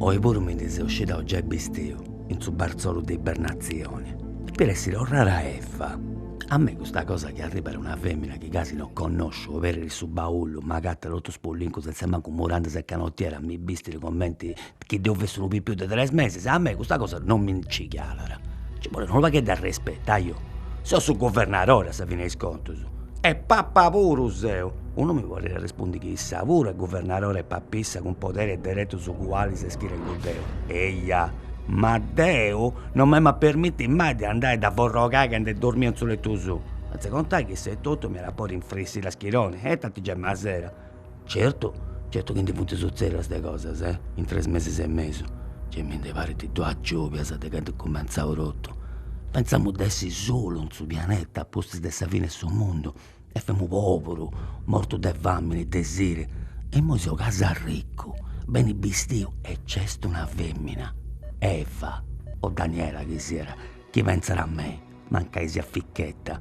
Oi puru mi ndi seu scidau giai bistiu in su barzolu de ibernazioni, depit essiri torrada Eva, a mei custa cosa chi arribbat una femina chi gasi no connosciu oberit su baullu, m'agattat totu spullincu senza mancu murandas e canotiera, mi bistit comenti chi deu fessi unu pipiu de tres meses, a mei custa cosa non mi nci calat, nci bolit unu pagheddu 'e respetu, ajo, seu su guvernadori a sa fini 'e is contus e papa puru seu, unu mi podit arrespundi chi issa puru est guvernadora e papissa cun poderis e deretus ugualis a is chi tengu deu, eia, ma deu non m'em'a permitti mai de andai a dda forrogai candu dormit in su lettu suu, sentza contai chi issa etotu m'iat a podi infrissiri a schironi e tanti giai m'asera Certu, certu chi ndi funt sutzèdidas de cosas, eh, in tres mesis e mesu, gei mi ndi parint duas giòbias de candu est cumentzau totu. Pentzamu de essi solu in su pianeta a pustis de sa fini 'e su mundu e femu poburu, mortu de famini, de siri, e immoi seu gasi arricu, beni bistiu e nc'est una femina, Eva o Daniela chi siat, chi pentzat a mei. Mancai siat ficchetta.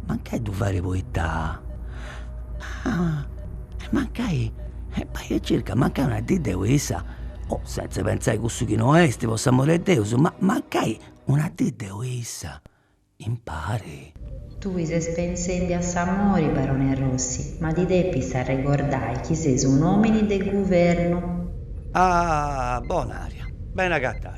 Mancai ddu fait poita. Ah e mancai bai e circa mancai una dì deu issa, o sentza pentzai cussu chi no est po s'amori 'e Deus, ma mancai una dì deu issa impari. Tui ses pentzendi a s'amori, barone Rossi, ma ti depis arregordai chi ses un'omini de guvernu. Ah Bonària, beni agatada.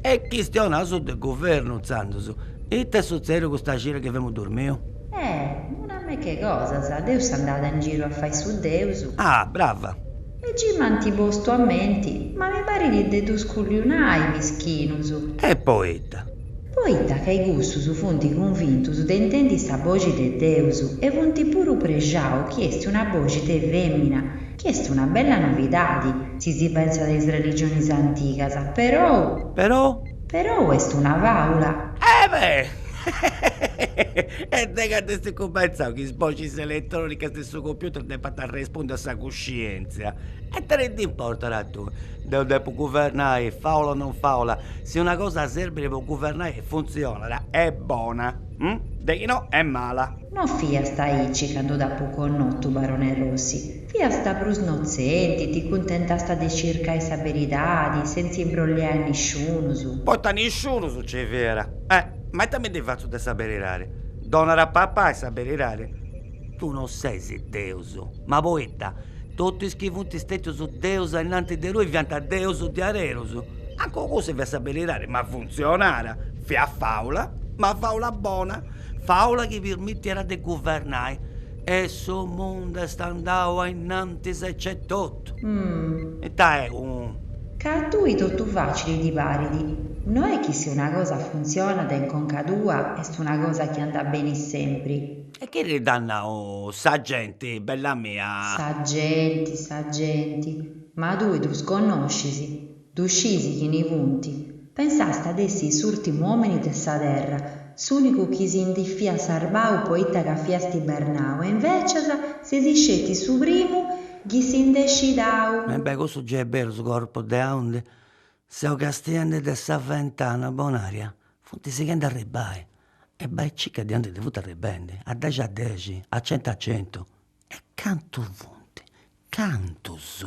E chistionaus de guvernu intzandus, ita est sutzèdiu custa cira chi femu dormiu? Eh! Una meca 'e cosas, deu seu andada in giru a fai su deus. Ah! Brava! E gei m'ant postu a menti, ma mi parit de ddus culliunai, mischinus. E poita? Poita ca custus funt cunvintus de intendi sa boxi de deus e funt puru prexaus chi est una boxi de femina Chi est una bella novidadi, si si pensat a is religionis antigas, perou. Perou? Perou est una fàula. Ebe! E de candu est cumentzau chi is boxis eletrònicas de su computer depant arrespundi a sa cuscièntzia? E ita ti nd'importat a tui? Deu depu guvernai, fàula o non fàula, si una cosa serbit po guvernai e funtzionat, est bona. Hm, de chi no est mala. No fiast aici candu t'apo connotu, barone Rossi. Fiast prus notzenti, ti cuntentast de circai sa beridadi, sentza imbrolliai a nisciunus. Poita nisciunus nci fiat. Eh, ma ita mi ndi fatzu de sa beridadi? Donat a papai sa beridadi? Tui no ses Deus. Ma poita, totu is chi funt stètius deus ainnantis de tui fiant deus diarerus. Mancu cussa fiat sa beridadi, ma funtzionàt. Fiat fàula, ma fàula bona, fàula chi pirmitiat de guvernai e su mundu est andau a innantis aici etotu. Ita est unu. Ca a tui totu facili ti parit. No est chi si una cosa funtzionat in conca tua est una cosa chi andat beni sempri. E chini dd'at nau, sa genti, bella mia? Sa genti, sa genti, ma tui ddus connoscis. Ddu scisi chini funt? Pensàst de essi s'ùrtimu òmini de sa terra, s'ùnicu chi si ndi fiat sarbau poita ca fiast ibernau e invècias ses isceti su primu chi si nd'est scidau. E beh, cussu giai est beru, su corpu de aundi seu castiendi de sa ventana, Bonaria, funt sighendi a arribbai, e bai circa de aundi funt arribendi, a dexi a dexi, a centu a centu, e cantu funt, cantus!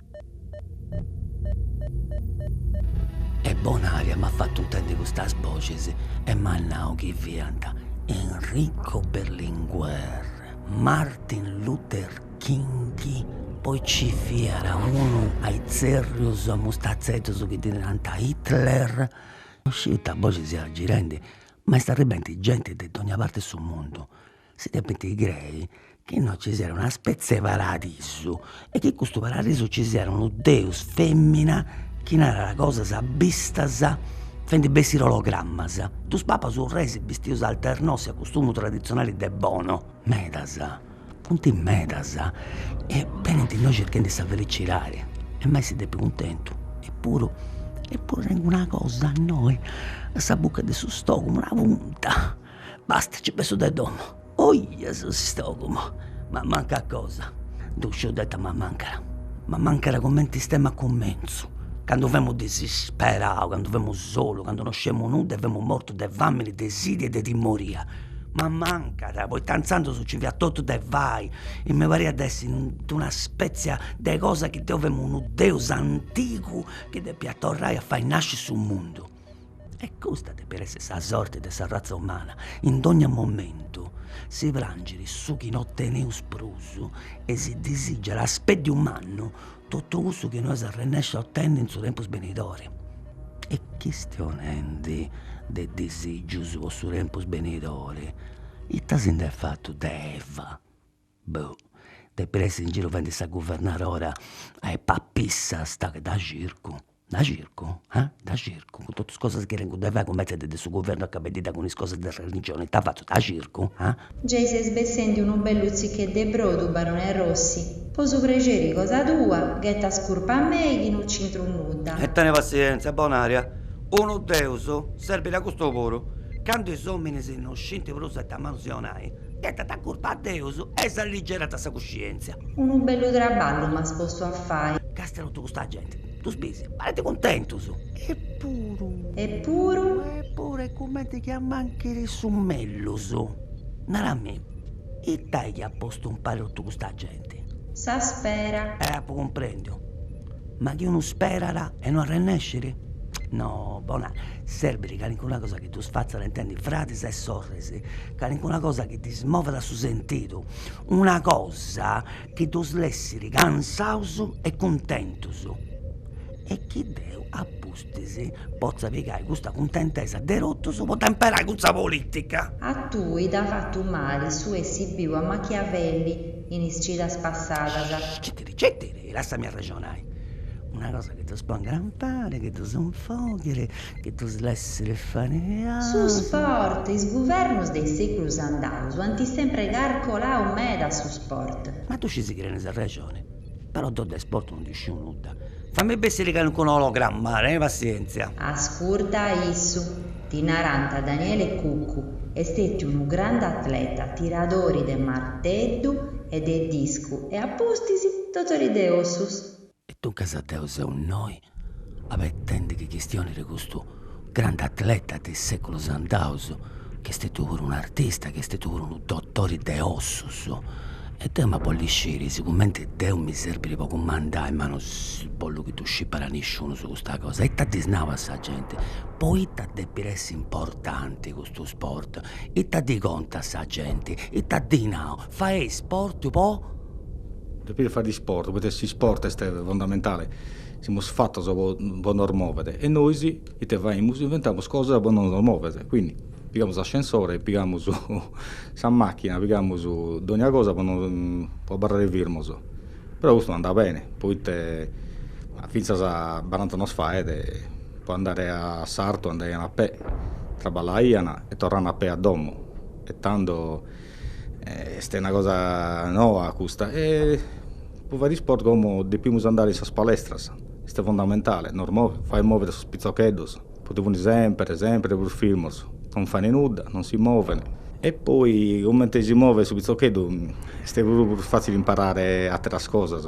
E Bonaria m'at fatu intendi custas boxis e m'at nau chi fiant Enrico Berlinguer, Martin Luther King, poi nci fiat unu a itzerrius a mustatzeddus chi ddi narant Hitler, non sciu ita boxi siat girendi, ma est arribendi genti de dogna parti 'e su mundu si depint crei chi innoi ci siat una spezia 'e paradisu e chi custu paradisu ci siat unu deus femmina chi narat cosas bistas faendi bessiri ologramas, dus papas urreis bistius alternossi a custumu tradizionali de Bono, medas, funt medas e benint innoi circhendi sa felicidadi emu a essi dèpiu cuntentu eppuru eppuru tengu una cosa innoi a sa bucca de su stomagu, una punta Basta nci bessu de domu. Oia su stogumu. M'amancat cosa. Ddu sciu deu ita m'amancat. M'amancat cumenti istemu a cumentzu. Candu femu disisperau, candu femu solu, candu no sciemu nudda e femu mortu de famini, de sidi e de timoria. M'amancat, poita intzandus nci fiat totu de fai e mi pariat de essi in d'una spetzia de cosa chi deu femu unu deus antigu chi depiat torrai a fai nasci su mundu. E custa depit essi sa sorti de sa razza umana, in dogna momentu si prangit su chi no teneus prus e si disìgiat a speddiu mannu totu cussu chi no eus a arrennesci a otenni in su tempus benidori. E chistionendi de disìgius po su tempus benidori, ita si nd'est fatu de Eva? boh depit essi in giru fadendi sa guvernadora a is papissas, daghi dda circu, dda circu eh, dda circu, cun totu is cosas chi tengu de fai cumentzendi de su guvernu acabendidda cun is cosas de religioni, ita fatzu, dda circu eh. Gei ses bessendi unu bellu tzicheddu 'e brodu, barone Rossi, po su prexeri cosa tua, ghetas curpa a mei chi no nc'intru nudda. E teni passienzia, Bonaria, unu Deus serbit a custu puru, candu is ominis no scinti prus ita manu si 'onai, Ghetat curpa a Deus e s'alligerat sa cuscientzia. Unu bellu traballu m'as postu a fai. Castia totu custa genti, ddus bisi, parent cuntentus. Epuru. Epuru. Epuru est cumenti chi ammanchiri su mellus. Narami, ita est chi at postu impari totu custa genti? Sa spera. Eh, apu cumprendiu. Ma chi unu sperat e no arrennesciri? No, Bona, serbiri calincuna cosa. Chi ddus fatzat intendi fradis e sorris, calincuna cosa chi ddis movat su sentidu, una cosa chi ddus lessiri cansaus e cuntentus e chi deu a pustis potza pigai custa cuntentesa de totus po dda imperai cun sa politica. A tui t'at fatu mali su essi biu a Machiavelli in is cidas passadas? Citiri, e lassami arrexonai, una cosa chi ddus pongat impari, chi ddus infoghiri, chi ddus lessiri fai. Su sport, is guvernus de is seculus andaus ant sempre carcolau meda su sport. Ma ddu scis chi tenis arrexoni, però deu de sport no ndi sciu nudda. Fammi bessiri calincunu ologramma, teni passienzia. Ascurta a issu. Ddi narant Daniele Cuccu, est stetiu unu grandu atleta, tiradori de marteddu e de discu e a pustis dotori de ossus. E duncas deu seu innoi abetendi chi chistioniri custu grandu atleta de is seculus andaus, chi est stetiu puru un'artista, chi est stetiu puru unu dotori de ossus, E deu ma bollu sciri sigumenti deu mi serbit po cumandai ma no bollu chi ddu scipat nisciunus custa cosa, ita ddis nau a sa genti, poita depit essi importanti custu sport, ita ddi contu a sa genti, ita ddi nau, faei sport po. Depis fai sport poita s'isport est fundamentali, semus fatos po nos movere e nois ite faimus, inventamus cosas po no nos movere, quindi Pigamus s'ascensore e pigamus sa machina, pigamus dogna cosa po no po abarrare firmos. Però custu no andat bene, poitte finzas a barant'annos faet po andare a sartu andaian a pè, traballaian e torraian a pè a domo. E tando est una cosa noa custa e po fai isport como depimus andare in sas palestras, este fondamentale, nos movit, fait movere sos pizoccheddhos. poite funi sempre, sempre prus firmos, non fani nudda, non si movene. E poi comente si movet su pitzocheddu est puru prus fatzili imparare ateras cosas,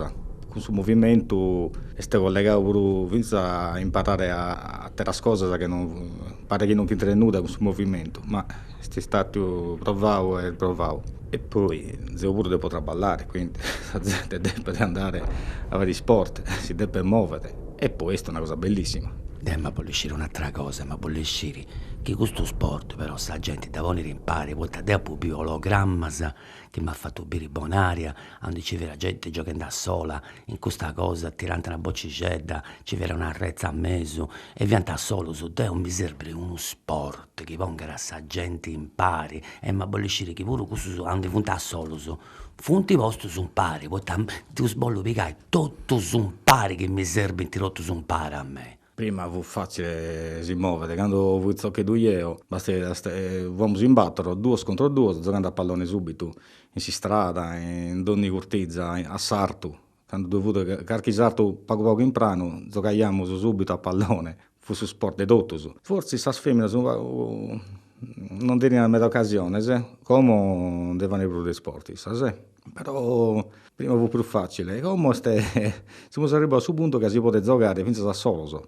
cun su movimentu est collegau puru finzas a imparare ateras cosas chi non paret chi non ch'intret nudda cun su movimentu, ma est istatu provau e provau e poi zeu puru depo traballare quindi sa zente depet andare a fai isporte si depet movere e poi est una cosa bellissima. Deu em'a bolli sciri un'atera cosa em'a bolli sciri chi custu sport però sa genti dda ponit impari poita deu apu biu ologrammas chi m'at fatu biri Bonaria, aundi nci fiat genti gioghendi a sola in custa cosa, tirant una bocixedda, nci fiat una retza a mesu e fiant a solus, deu mi serbit unu sport chi pongat a sa genti impari e em'a bolli sciri chi puru cussus aundi funt a solus funt postus impari, poita ddos bollu pigai totus impari chi mi serbint totus impari a mei Prima fut fatzile si movere, candu fui pitzocheddu eo, basta, fuamus in battoro, duos contro duos, zogande a pallone subitu, in s'istrada, in dogni curtiza, a sartu, candu ddoi fut carchi sartu pagu pagu in pranu, zogaiamus subitu a pallone, fut su sport de totus. Fortzis sas feminas non teniant meda ocasionis, como ndi fani prus de isporti issas però prima fut prus fatzile, como est semus arribbaus a su puntu ca si podet zogare finzas a solos,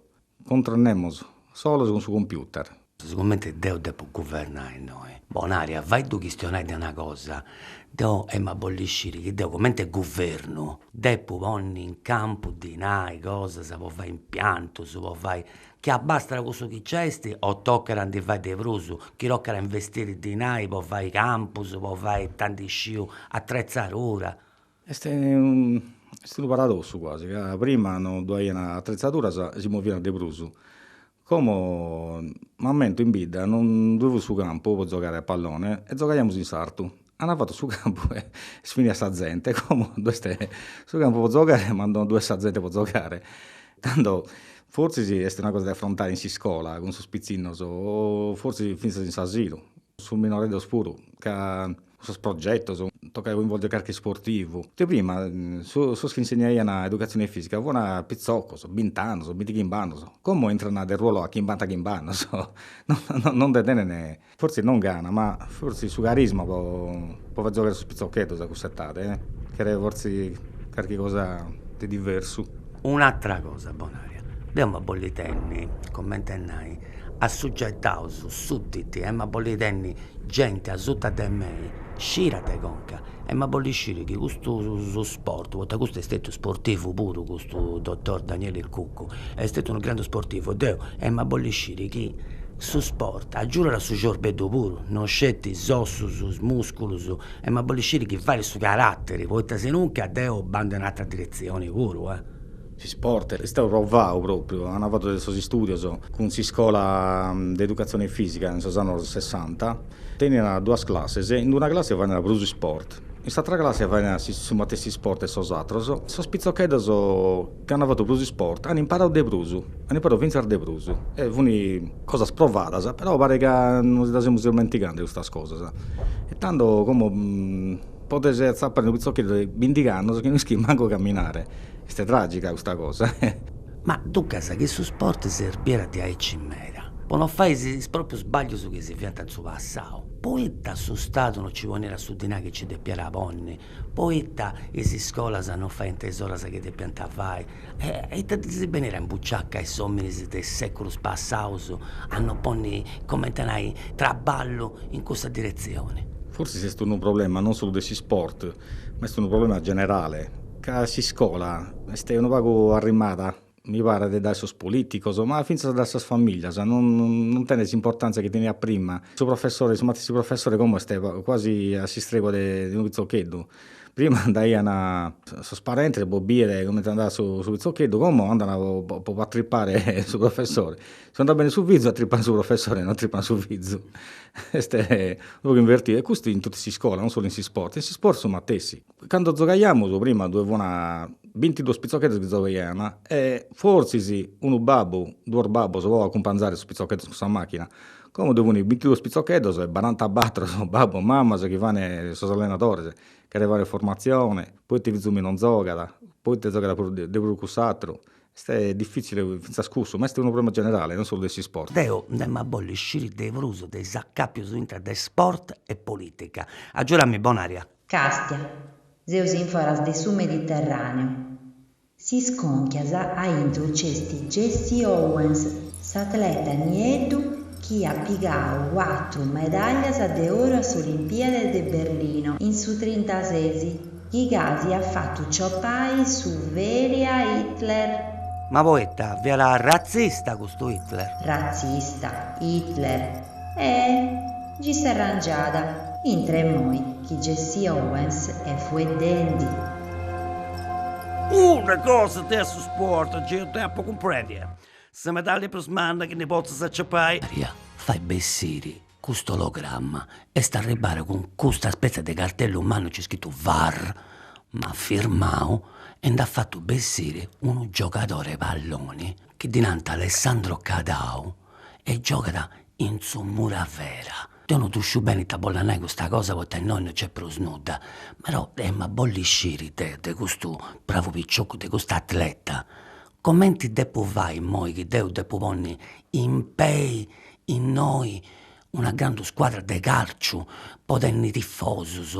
contra nemos, solos cun su computer. Sigumenti deu depu guvernai innoi, Bonaria faiddu chistionai de una cosa, deo emu a bolli sciri chi deo comente guvernu depu ponni in campu dinai cosas po fai impiantus, po fai Chi abbastat cussu chi nc'est o tocat a ndi fai de prus, chi tocat a investiri dinai po fai campus, po fai ita ndi sciu atretzadura. Est est unu paradossu cuasi, ca prima no ddu aiant atretzaduras e si moviant de prus, como m'ammento in bidda non ddu fut su campu po zogare a pallone e zogaiamus in sartu An fatu su campu e est finia sa zente, como ddu est su campu po zogare ma non ddu est sa zente po zogare. Tando fortzis est una cosa de afrontare in s'iscola cun sos pitzinnos o fortzis fintzas in s'asilu, sos minoreddos puru, ca cun sos progettos, tocat a coinvolgere carchi isportivu. Ite prima, sos chi insegnaian educatzione fisica fuant pitzoccos, bint'annos, binti chimb'annos, como intrant de ruolo a chimbanta chimb'annos, no nde tenent Fortzis non gana, ma fortzis su carisma po po fai zogare sos pitzocheddos a cussa etade, cheret fortzis carchi cosa de diversu. Un'atera cosa Bonaria, deu em'a bolli tenni, comente a nai, assugetaus, sudditi, em'a bolli tenni genti asuta de mei, scira de conca, E m'at bolli sciri chi custu su sport, poita custu est stetiu sportivu puru custu dottor Daniele Cuccu, est stetiu unu grandu sportivu e deu, e m'at bolli sciri chi su sport agiudat a su ciorbeddhu puru, no sceti is ossus, is musculus, e m'at bolli sciri chi fait a su caratteri, poita sinunca deu bandu in ateras diretzioni puru eh. S'isport est stau provau propriu ant fatu de sos istudios cun s'iscola de educatzioni fisica in sos annos sessanta, teniant duas classes, in una classe faint prus isport, in s'atra classe faint su matessi isport de sos atros, sos pitzocheddos chi ant fatu prus isport ant imparadu de prus, ant imparadu fintzas de prus, e funt cosas provadas, però parit ca nos ddu semus ismentigende custas cosas, e tando como podes atzapare unu pitzocheddu de bindighi annos chi no ischit mancu caminare, est tragica custa cosa. Ma duncas chi su sport serbiat diaici meda, po no fai is proprius sbaglius chi si fiant in su passau, poita su Stadu no ci poniat su dinai chi ci depiat ponni, poita is iscolas no faint is oras chi depiant fai, e ita ddis benit in buciaca a is ominis de is seculus passaus a no ponni, comenti a nai, traballu in cussa diretzioni. Forsis est unu problema non solu de s'isport, ma est unu problema generale. Ca s'iscola est unu pagu arrimada, mi paret, dae sos politicos, ma fintzas dae sas familias, non non tenet s'importantzia chi teniat prima. Su professore, su matessi professore como est quasi a s'istregua de unu pitzocheddu, prima andaian sos parentes po bider comente andat su pitzocheddu, como andan po po atrippare su professore, si no andat bene su fizu atrippan su professore, non atrippan su fizu, est unu pagu invertidu e custu in totu s'iscola, non solu in s'isport, in s'isport su matessi. Cando zogaiamus prima ddoe fun bintiduos pitzocheddos chi zogaiana e forsis unu babbu, duos babbos po acumpanzare sos pitzocheddos cun sa macchina. Como ddoe fun bintiduos pitzocheddos e barantabattor babbos mammas chi fana sos allenadores, cherent faer formatzione, poite fizu meu non zogat, poite zogat de prus cuss'attru. Est diffitzile finzas cussu, ma est unu problema generale, non solu de s'isport. Deo ndi emu a bolli sciri de prus de is acapius intra de isport e politica. Agiuda-mì Bonaria. Càstia, seus in foras de su Mediterràneu. Si iscònchias a intro nc'est Jesse Owens, s'atleta nieddu chi at pigau cuatru medàllias de oru a s'Olimpiade de Berlino in su trintases, chi gasi at fatu ciopai su feli a Hitler. Ma poita, fiat ratzista custu Hitler? Ratzista, Hitler, E gi s'arrangiada intre e moi chi Jesse Owens e fueddendi. Una cosa de su sport geu depo cumprendi. Sa medaglia prus manna chi ndi potzas aciapai. Bonaria fai bessiri custu ologramma est arribbara cun custa spezia de cartellu mannu nc'est scritu var ma firmau e nd'at fatu bessiri unu giogadori 'e palloni chi ddi nant Alessandro Cadau e giogat in su Muravera. Deu non ddu sciu bene ita bollat nai custa cosa poita innoi no nc'est prus nudda, però emu a bolli sciri de custu bravu picioccu, de custu atleta, comenti depu fai immoi chi deu depu ponni impei innoi una grandu scuadra de calciu po tenni tifosus,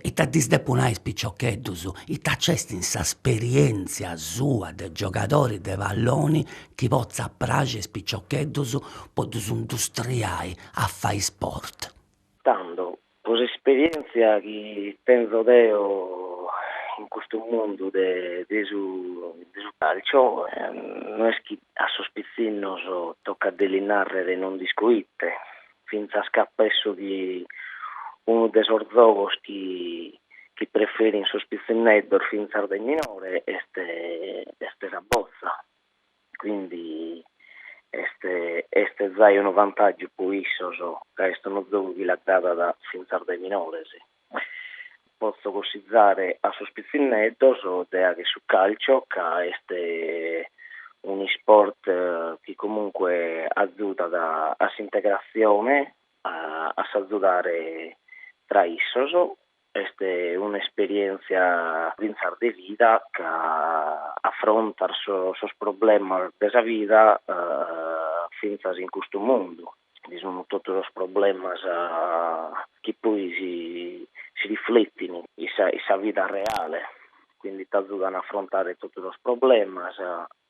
ita ddis depu nai a is piciocheddus, ita nc'est in s'esperienzia sua de giogadori de palloni chi potzat praxi a is piciocheddus po ddus industriai a fai sport. Tando Pro s'esperièntzia chi tenzo deo in custu mundu de de su de su càlcio, no est chi a sos pitzinnos tocat de lis nàrrere non nd'isco ite, fintzas ca penso chi unu de sos zogos chi chi preferin sos pitzinneddos fintzas de minore est est sa botza, quindi est est zai unu vantàgiu po issos ca est unu zogu chi l'agradat fintzas dae minores. Potzo cussizare a sos pitzinneddos de agher su calcio ca est un'isport chi comunque azudat a s'integratzione a s'azudare tra issos Est un'esperièntzia fintzas de vida ca afrontas sos problemas de sa vida fintzas in custu mundu. Bi sun totu sos problemas chi poi si rifletin in sa vida reale, quindi t'azudan a afrontare totu sos problemas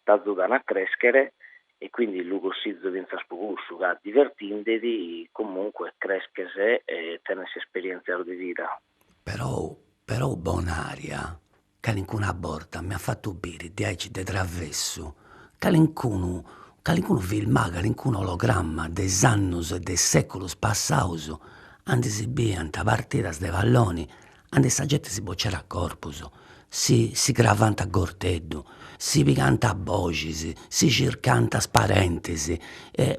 t'azudan a crèschere e quindi lu cossizo fintzas po cussu ca divertindedi comunque cresches e tenes esperientzias de vida. Però però Bonaria calincuna borta mi at fatu biri diaici de travessu calincunu calincunu filmau calincunu ologramma de is annus e de is seculus passaus andi si biiant partidas de palloni Andi sa genti si bocit a corpus, si cravant a gorteddu, si pigant a boxis, si circant is parentis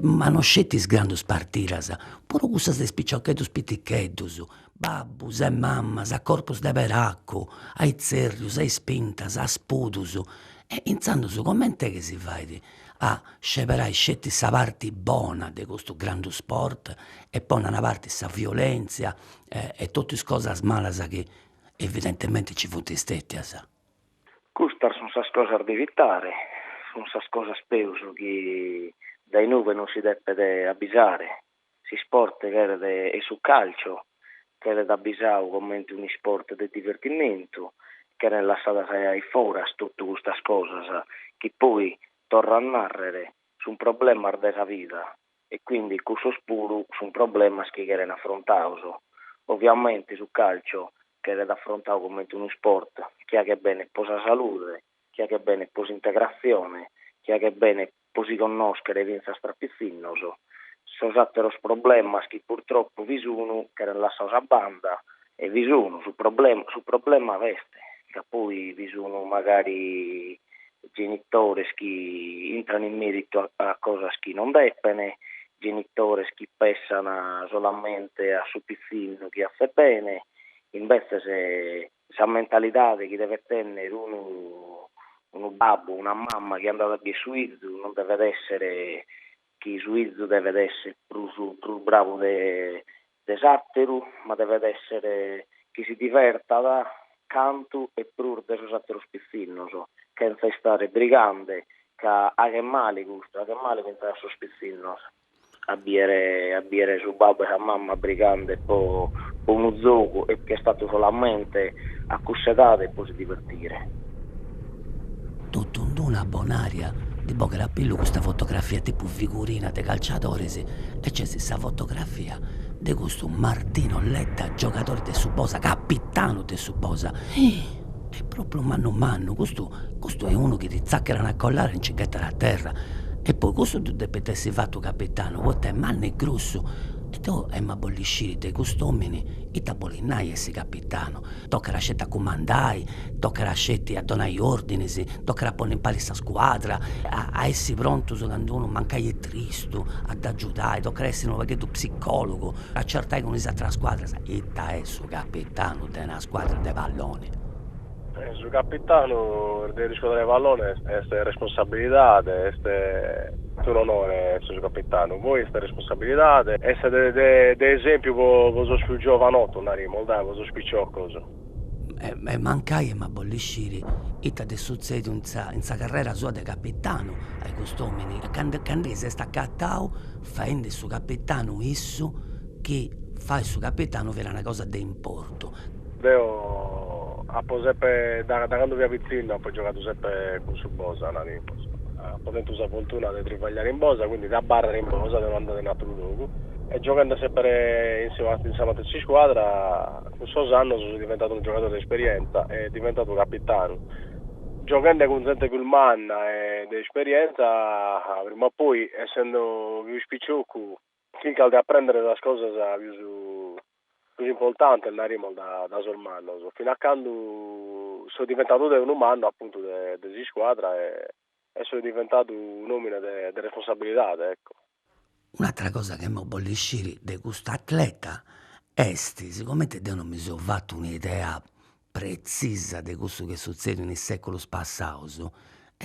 ma no sceti is grandus partidas, puru cussas de is piciocheddus piticheddus, babbus e mamas a corpus de peracu, a itzerrius, a ispintas, a spudus, e intzandus comente chi si fait a sceberai sceti sa parti bona de custu grandu sport e ponni a una parti sa violentzia e totu is cosas malas chi evidentemente nci funt stètias. Custas sunt sas cosas de evitare, sunt sas cosas peus chi dae inuve non si depet abbisare. S'isport cheret, e su càlciu, cheret abbisadu comente un'isport de divertimentu, cherent lassadas a foras totu custas cosas chi poi, torro a nàrrere, sunt problemas de sa vida, e quindi cussos puru sun problemas chi cheren affrontados, oviamente su calcio cheret affrontadu comente unu sport chi aghet bene pro sa salude, chi aghet bene pro s'integratzione, chi aghet bene pro si connoschere fintzas tra pitzinnos, sos atteros problemas chi purtroppo bi sun cheren lassados a banda, e bi sun, su problema b'est, ca poi bi sun magari genitores chi intran in meritu a a cosas chi non depen, genitores chi pessan solamente a su pitzinnu chi aghet bene, imbetzes sa mentalidade chi devet tenner unu unu babbu, una mama chi andat a bier su 'izu non devet esser chi su 'izu devet esser prus prus bravu de de s'àteru, ma devet èssere chi si divertat cantu e prus de sos àteros pitzinnos, chentza istare brigande, ca aghet male custu, aghet male fintzas a sos pitzinnos a bìere a bìere su babbu e sa mama brigande pro pro unu zogu e ch'est fatu solamente a cuss'edade e pro si divertire. Totu in d-una Bonaria ndi bogat a pillu custa fotografia tipu figurina de calciadores e nc'est sa fotografia de custu Martino Letta giogadore de su Bosa, capitanu de su Bosa. Est propriu mannu mannu, custu custu est unu chi ti zacat una collada e nci ghetat a terra. E poi custu ddu depit essi fatu capitanu poita est mannu e grussu e deu emu a bolli sciri de cust'omini ita bolit nai essi capitanu Tocat sceti a cumandai, tocat sceti a donai ordinis, tocat a ponni impari sa scuadra, a essi prontus candu unu mancai est tristu, a dd'agiudai, tocat a essi unu pagheddu psicologu, a certai cun is ateras scuadras, ita est su capitanu de una scuadra de palloni. Su capitanu de una scuadra de palloni est responsabilidadi, est unu onori essi su capitanu, poi est Sabilidade est de esèmpiu po sos pius giovanotos, naremus, dae, po sos piciocos. E mancai e m'ia a bolli sciri ita nd'est sutzediu in sa in sa carrera sua de capitanu ai cust'omini e candu s'est acatau faendi su capitanu issu chi fai su capitanu fit una cosa de importu Deo apo semper, dae cando fia pitzinnu apo giogadu semper cun su Bosa, naramos. Apo tentu sa fortuna de tribagliare in Bosa, quindi de abarrare in Bosa, de no andare in atteru logu. E giogende semper in in sa matessi scuadra, cun sos annos so diventadu unu giogadore de esperienza e diventadu capitanu. Giogende cun zente pius manna e de esperienza, prima o poi, essendo pius piciocu, Chircas de aprèndere sas cosas pius pius importantes, naremos, dae sos mannos, fina a cando so diventadu deo unu mannu, apuntu, de de s'iscuadra e e so diventadu un'òmine de de responsabilidade, ecco. Un'atra cosa chi emo bolliu sciri de cust'atleta est sicomente deo non mi so fatu un'idea pretzisa de cussu chi est sutzediu in is seculus passaus,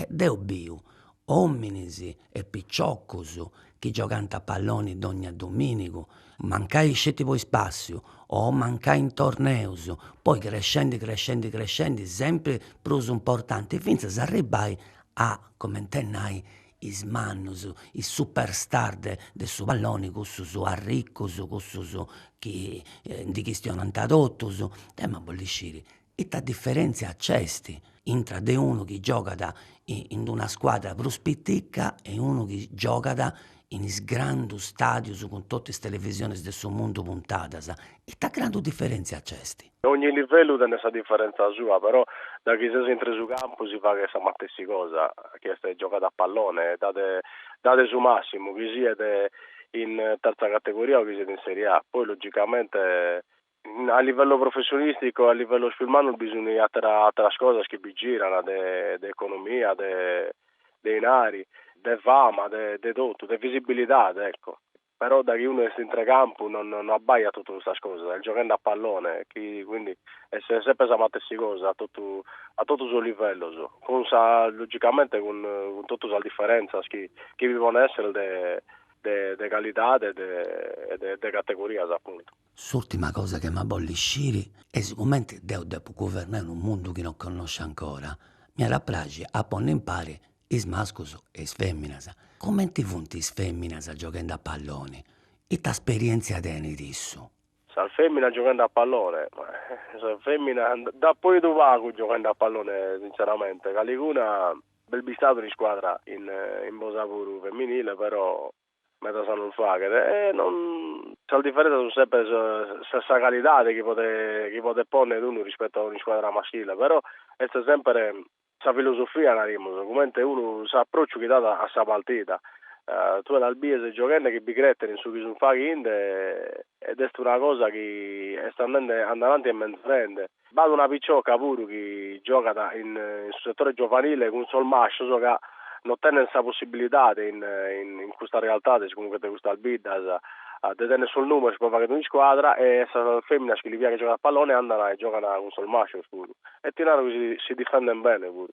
deu biu ominis e piciocus chi giogant a palloni dogna dominigu, mancai sceti po ispàssiu o mancai in torneus, poi crescendi crescendi crescendi sempri prus importanti fintzas a arribbai a, coment'e nai, is mannus, is superstar de de su palloni cussus arricus, cussus chi ndi chistionant totus, deu m'ia a bolli sciri ita diferentzia nc'est intra de unu chi giogat in d'una scuadra prus piticca e unu chi giogat in is grandus stadius cun totu is televisionis de su mundu puntadas, ita grandu diferentzia nc'est Ogni livellu tenet sa diferentza sua, però da chi ses intre su campu si faghet sa matessi cosa, chi est giogare a pallone, e dare dare su massimu, chi siet in terza categoria o chi siet in Serie A. Poi logicamente a livello professionistico e a livellos pius mannus bi sun atera ateras cosas chi bi giran de de economia, de dinari, de fama, de de totu, de visibilidade, ecco. però daghi unu est intre campu no no abbaiat totu custas cosas, est gioghende a pallone quindi est sempre sa matessi cosa a totu a totu sos livellos, cun sa logicamente cun cun totu sas differenzas chi chi bi pon esser de de de calidade e de e de categorias appuntu. S'urtima cosa chi m'ia a bolli sciri est sicomenti deu depu guvernai unu mundu chi no connosciu ancora. M'iat a praxi a ponni impari is mascus e is feminas. Cumenti funt is feminas gioghendi a palloni? Ita sperientzia tenit issu? Sas feminas gioghende a pallone? Sas feminas nd'apo 'idu pagu gioghende a pallone sintzeramente. Caliguna b'est bistadu in iscuadra in Bosa puru feminile però medas a non fagher e non sas diferenzas sun sempre sa sa calidade chi podet chi podet ponner unu rispettu a un'iscuadra maschile però est sempre sa filosofia narimus comente unu s'approcciu chi dat a sa partida tue las bies gioghende chi bi creten in su chi sun faghende ed est una cosa chi est andende a dananti e menzorende. B'at una picioca puru chi giogat in su setore giovanile cun sos mascios ca no tenent sa possibilidade in in custas realtades comunque de custas biddas de tenner sos numeros pro fagher un'iscuadra e sas feminas chi li piaghet giogare a pallone andana e giogana cun sos mascios puru e ti naro chi si difenden bene puru.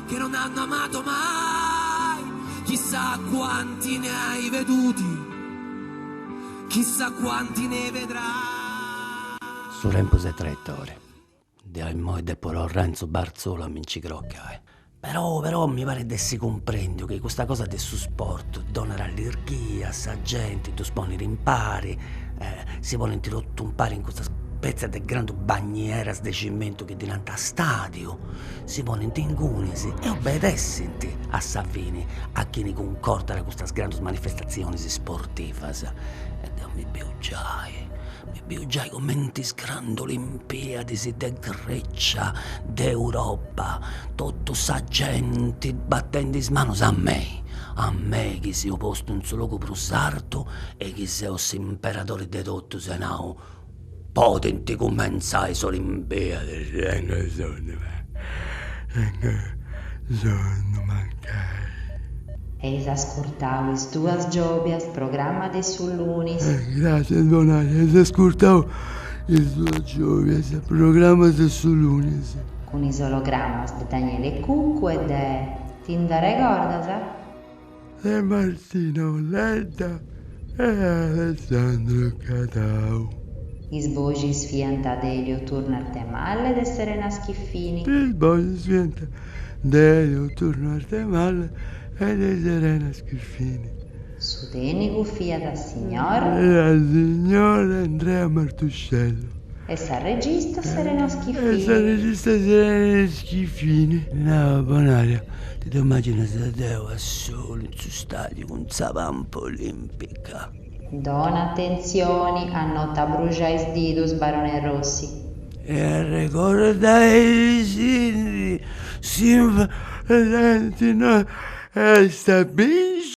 Che non hanno amato mai Chissà quanti ne hai veduti Chissà quanti ne vedrai Su tempus est traitori Deu immoi depu torrai in su bartzolu a mi nci crocai. Però, però, mi parit de essi cumprendiu chi custa cosa de su sport donat allirghia a sa genti, ddus ponit impari, si ponint totu impari in custa spètzia de grandu bagnieras de cimentu chi ddi nant stadiu, si ponent ingunis e obedessint a sa fini a chini cuncordat custas grandus manifestatzionis sportivas. E deu mi biu giai, mi biu giai comenti is grandus olimpiadis de Grecia, de Europa, totu sa genti batendi is manus a mei, a mei chi seu postu in su logu prus artu e chi seu s'imperadori de totus e nau podint cumentzai is olimpiadis. Mancai. Eis ascurtau is duas giobias programma de su lunis. Gràssias Bonaria, eis ascurtau is duas giobias programma de su lunis. Cun is ologrammas de Daniele Cuccu e de Ti nd'arregordas? de Martino Ledda e Alessandro Cadau. Is boxis fiant de Elio Turno Arthemalle e de Serena Schiffini. Is boxis fiant de Elio Turno Arthemalle e de Serena Schiffini. Su tènicu fiat signor. E a signor Andrea Martuscello. E sa regista Serena Schiffini. E sa regista Serena Schiffini. Nau, Bonaria, Ti ddu immàginas deu a solu in su stàdiu cun sa pampa olìmpica? Dona atentzioni a no t'abbruxai is didus, Barone Rossi. E arregordaisindi, s'importanti no est a binci.